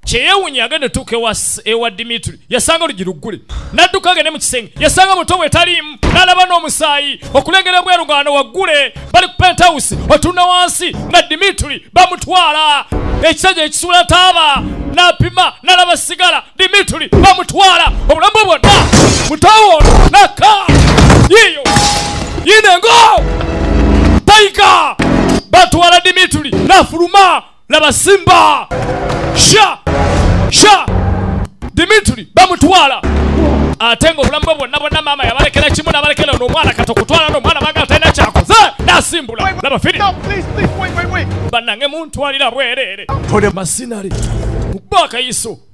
kyeyewunya agenda otuuka ewa dimitri yasanga olugi luggule n'adduka agende mu kisenge yasanga muto we taliimu n'alaba n'omusaayi okulengera obwerugaano waggule bali ku pentawusi otunna wansi nga dimitri bamutwala ekisajja ekisuula taaba n'apima n'alaba sigala dimitri bamutwala obulamu bwe bwonna mutawo naka yiyo yinengo taika batwala dimitri n'afuluma laba simba sha sha dimitri bamutwala ate nga obulamu bwe bwonna bwonna maama yabalekera kimu nabalekera ono omwana kati okutwala noomwana bagala talina kyakoze nasimbula laba firi bannange muntwalira bwereere masinale mukubakayiso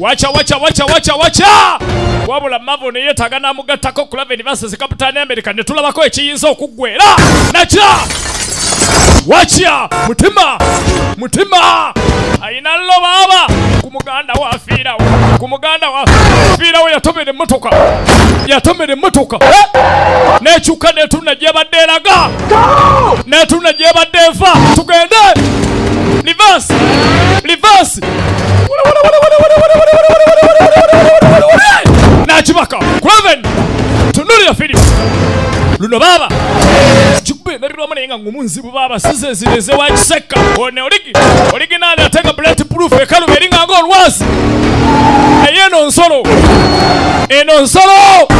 wacha wacha wacha wacha wacha wabula mavo neyetaaga n'amugattako kulava enivasi zikaputaani amerika ne tulabako ekiyinza okuggwera nakya wacha mutima mutima alina lobaaba ku muganda we afiirawo ku muganda we afiirawo yatomera emmotoka yatomera emmotoka n'ekyuka n'etunna gyebadde eraga n'etunna gyebadde eva tugende livasi livasi nakibaka kuraven tunulira firimu luno baaba kikuba endabirwamu naye nga ngumu nzibu baaba size zireze wakisekka one oligi oliginaali ate nga bullet proof ekaluba eri nga ng'olwazi naye eno nsolo eno nsolo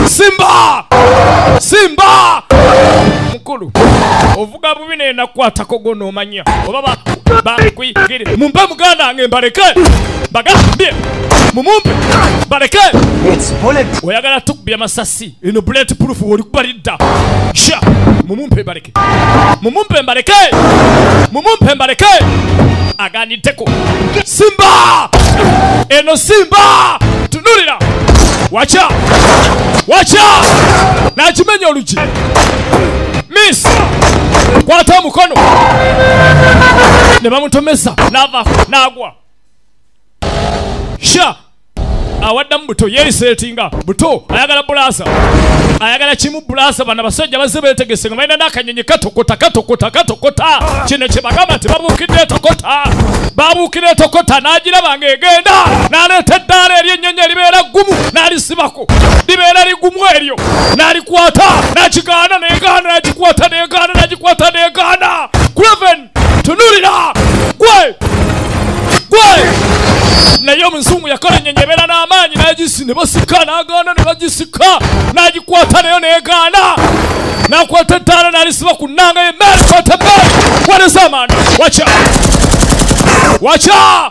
simba simba mukulu ovuga bubi naye nakwatako gwo noomanya oba ba- bakuyigire mumpe muganda wange mbaleke bagambye mumumpe mbaleke oyagala tukubya masasi eno bullet proof olikuba lidda sha mumumpe mbaleke mumumpe mbaleke mumumpe mbaleke aganiddeko simba eno simba tunulira wacha wacha nakimenya olu miss kwata omukono ne bamutomeza nava nagwa sha awaddamu buto yeeseetinga buto ayagala bulaasa ayagala kimu bulaasa bana basajja bazze beetegese nga balina n'akanyonyi katokota katokota katokota kino kye bagamba nti babuukidde etokota babuukira etokota n'agiraba ng'egenda n'aleeta eddaala eri ennyonyi eribeera ggumu n'alisibako libeera ligumu eryo nalikwata nakigaana negaana nagikwata negaana nagikwata negaana graven tunulira gwe gwe naye omuzungu yakola enyenye ebeera n'amaanyi nagisi ne basika nagaana ne bagisika nagikwata nayo negaana nakwata ettaala nalisiba ku nnanga ye meri kwata meri walesa amaani waca waca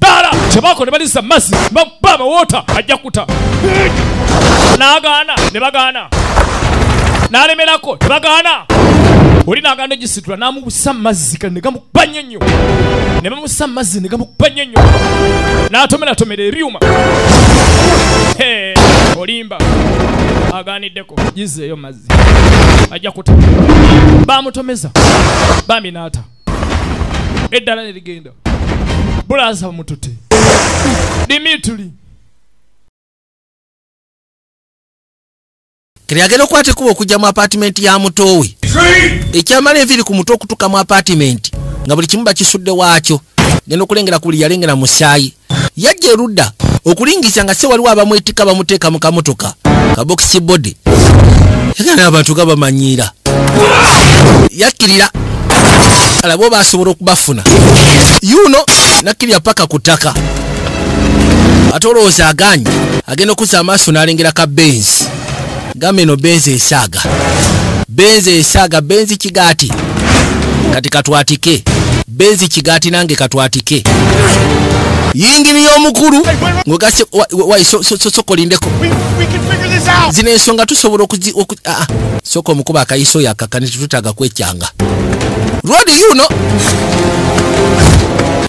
taala kyebako ne baliza mazzi bakuba abawoota ajja kuta n'agaana ne bagaana n'alemerako ne bagaana oli n'agaana egisitula n'amubusa mazzi kale ne gamukuba nnyo nnyo ne bamusa mazzi ne gamukuba nnyo nnyo n'atomeratomera ebyuma olimba agaaniddeko gizeeyo mazzi ajja kuta bamutomeza bambi n'ata eddala ne ligenda bulaasa bamutute dimituli kiri agenda okukwata ekuba okujja mu apatimenti ya mutoowe ekyamala enviiri ku mutwe okutuuka mu apatimenti nga buli kimu bakisudde waakyo genda okulengera ku buli yalengera musaayi yajja erudda okulingisa nga se waliwo abamwetika bamuteeka mu kamotoka kabokisi body yagana abantu ga bamanyiira yakkirira alabo basobola okubafuna yuno nakkirira paka ku ttaka ate olowooza aganye agenda okuza amaaso n'alengera ka benzi gamba eno benzi esaaga benzi esaaga benzi kigaati kati katwatike benzi kigaati nange katwatike yingini y'omukulu ngogase sokolindeko zino ensonga tusobola soka omukuba akayiso yakakani tetutaga kwekyanga rodi yuno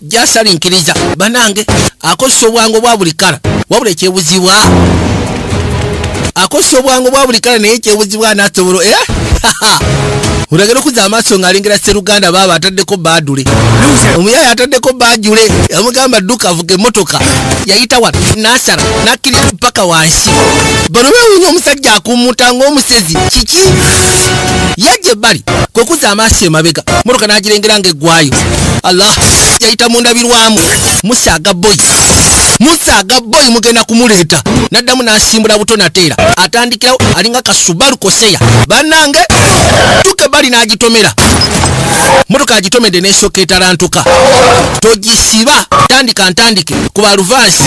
jasalinkiriza banange akozesa obwangu obwa buli kala wabula ekyebuzibwa akozesa obwangu bwa buli kala naye ekyobuzibwa anaasobola e eh? olagera okuza amaaso ng'alengera sseruganda baaba ataddeko baadule omuyaayo ataddeko baajule yamugamba dduka avuga emmotoka yayita wano n'asala n'akkirira paka wansi bano beewuunya omusajja akumuta ng'omusezi kiki yajja ebbali kwe kuza amaaso emabega mmotoka n'agirengera ng'eggwayo allah yayita mu ndabirwamu musaaga boy musaaga boy mugenda kumuleeta naddamu n'asimbula buto nateera atandikirawo alinga kasubalu koseya bannange tuke bali n'agitomera motoka agitomedde n'esooka etarantuka togisiba tandika ntandike ku baluvansi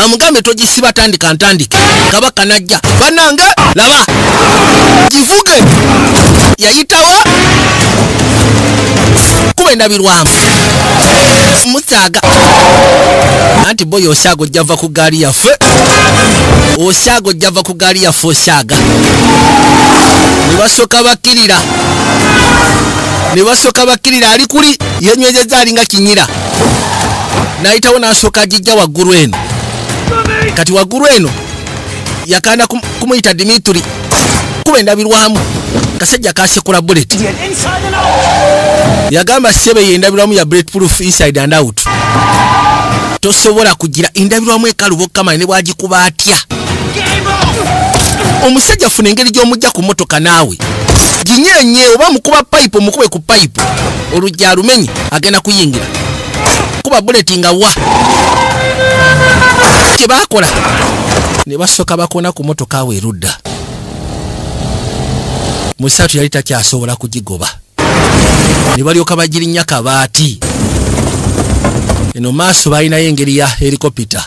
amugambe togisiba tandika ntandike kabaka najja bannange laba givuge yayitawa kuba endabirwamu musaaga anti boyo osaaga ojjava ku gaali yaffe osaaga ojjava ku gaali yaffe osaaga ne basooka bakkirira ne basooka bakkirira ali kuli yenywezezza alinga kinyira n'ayitawo n'asooka agijja waggulu eno kati waggulu eno yakanda kumuyita dimitri kuba endabirwamu kasajja kasekula bullet yagamba sebe ye endabirwamu ya bullet proof inside and out tosobola kugira endabirwamu ekaluba okukamanya ne bwagikuba atya omusajja afuna engeri gy'omujja ku motoka naawe ginyenye oba mukuba payipu omukube ku payipu olugya alumenye agenda kuyingira kuba buleti nga wa kye baakola ne basooka bakona ku motoka awo erudda musaatu yali takyasobola kugigoba ne balyoka bagirinnya kabaati eno maaso baalinayo engeri ya helikopita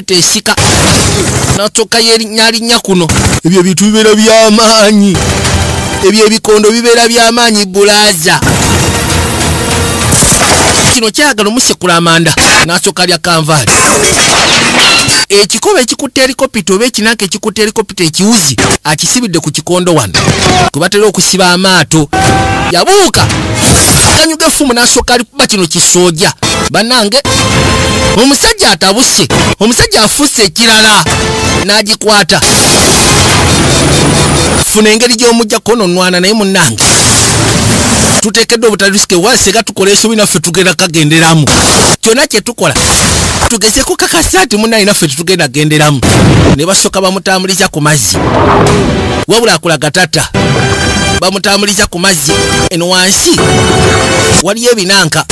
bw'okukuta esika n'asooka yeerinnyalinnya kuno ebyo ebintu bibeera by'amaanyi ebyo ebikondo bibeera by'amaanyi bulaaza kino kyagala omusekula amanda n'asooka lya kanvaali ekikoba ekikutte erikopita oba ekinanka ekikutte erikopita ekiwuzi akisibidde ku kikondo wano kwe batera okusiba amaato yabuuka akanyuga effumu n'asooka alikuba kino kisooja banange omusajja atabuse omusajja afusse ekirala n'agikwata funa engeri gy'omujja kononwana naye munange tuteekeddwa obutarisike wasega tukola esobi naffe tugenda kagenderamu kyonna kye tukola tugeze ku kakasa nti munaye naffe tetugenda genderamu ne basooka bamutambuliza ku mazzi wabula akulaga tata bamutambuliza ku mazzi no wansi waliyo ebinanka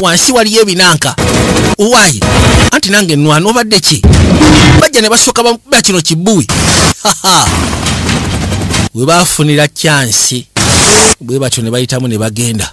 wansi waliyo ebinanka owaye anti nange nwana obadde ki bajja ne basooka bakuba kino kibuwi we bafunira kyansi bwe batyo ne bayitamu ne bagenda